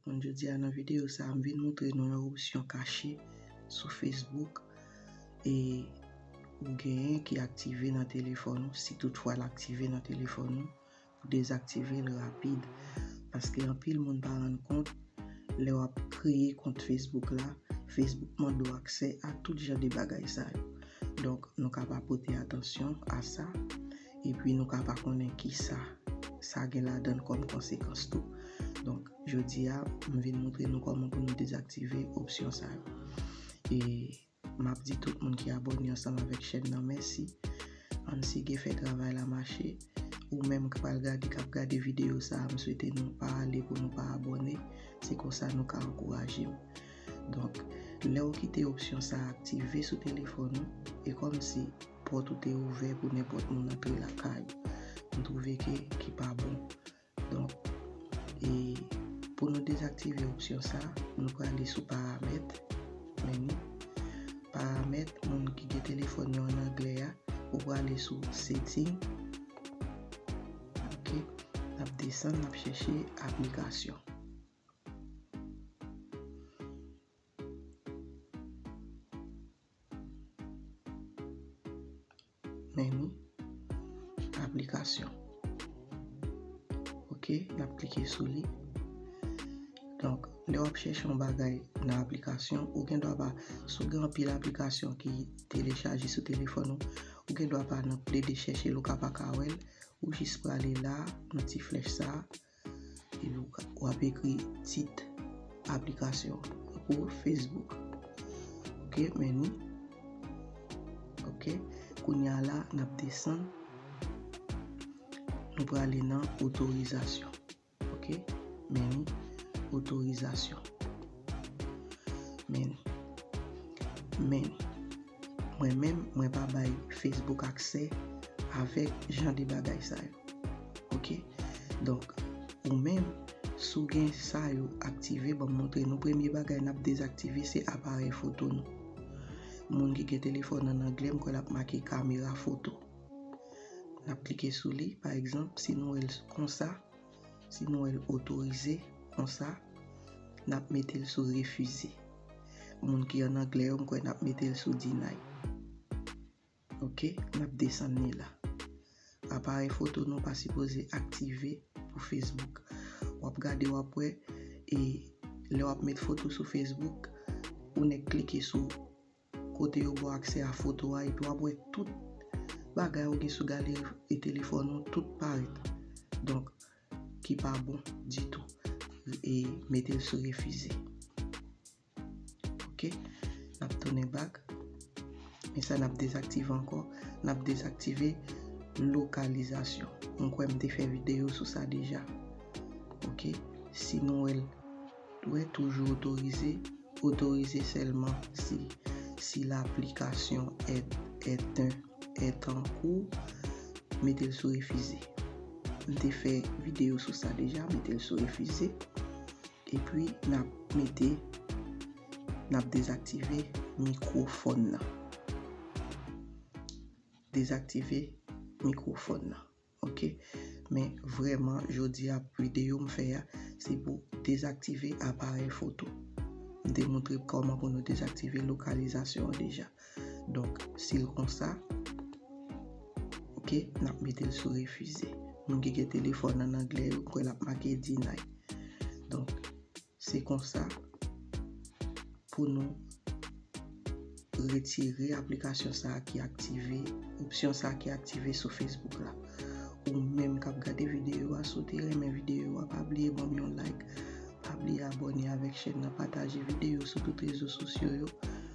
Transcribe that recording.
Bon jodi a nan videyo sa m vin moutre nou yon opsyon kache sou Facebook e ou genyen ki aktive nan telefòn ou si tout fwa l aktive nan telefòn ou Dezaktivel rapid paske anpil moun pa rann kont lè wap kreye kont Facebook la Facebook mande w aksè a tout jan de bagay sa yo donk nou ka pa pote atansyon a sa epi nou ka pa konnen kisa sa gen ladann kòm konsekans tou donk jodi a m vin montre nou kòman pou nou dezaktive opsyon sa yo e Map di tout moun ki abone ansanm avek chèn nan mèsi ann sige fè travay la mache ou menm k pral gade kap gade video sa m swete nou pa ale pou nou pa abone se konsa nou ka ankourajem donk lè ou kite opsyon sa aktive sou telefòn ou e kòmsi pòt ou te ouvè pou nenpòt moun antre lakay ou m twouve ke ki pa bon Donk, e pou nou dezaktive opsyon sa, nou prale sou paramèt, menu, paramèt, moun ki gen telefòn yo an anglè a, ou prale sou setting, ok, nap desann, nap chèche aplikasyon. Menu, application. Ok, nap klike sou li. Donk, lè wap chèche yon bagay nan aplikasyon, ou gen dwa pa, si w gen anpil aplikasyon ki telechaje sou telefòn ou, ou gen dwa pa nan plede chèche l, ou ka pa ka wè l, ou jis prale la, nan ti flèch sa a. Ou ap ekri tit aplikasyon pou Facebook. Ok, menu. Ok, kounya la nap desann. Nou prale nan otorizasyon. Ok, menu, otorizasyon. Menu. Menu. Mwen menm, mwen pa bay Facebook aksè avèk jan de bagay sa yo. Ok, donk ou menm si w gen sa yo aktive banm montre nou premye bagay nap dezaktive se aparèy foto nou moun ki gen telefòn an anglè m kwè lap make kamera foto nap klike sou li pa egzanp si nou wè l konsa si nou wè l otorize konsa nap mete l sou refize moun ki an anglè yo m kwè nap mete l sou dinay. Ok nap desann li la. Aparèy foto nou pa sipoze aktive pou Facebook. Wap gade wap wè e lè wap met foto sou Facebook ou nèk klike sou kote yo baw aksè a foto a epi wap wè tout bagay ou gen sou galeri telefòn ou tout parèt. Donk ki pa bon ditou. E metel sou refize. ok nap tounen back men sa nap dezaktive ankò nap dezaktive lokalizasyon mwen kwè m te fè video sou sa deja ok si nou wèl dwè toujou otorize otorize sèlman si si laplikasyon et eten et ankou mete l sou refize m te fè video sou sa deja mete l sou refize. Epi nap mete nap dezaktive mikrofòn nan. Dezaktive mikrofòn nan ok men vrèman jodi a videyo m fè a se pou dezaktive aparèy foto. M te montre kòman pou nou dezaktive lokalizasyon an deja. Donk, si l konsa, ok, n ap mete l sou refize. Moun ki gen telefòn an angle yo, kwen l ap make deny. Donk, se konsa pou nou retire aplikasyon sa a ki aktive, opsyon sa a ki aktive sou Facebook la. Ou menm k ap gade videyo a, si w te renmen videyo a, pa bliye ban m yon like, pa bliye abòne avèk chèn nan, pataje videyo sou tout rezo sosyo yo.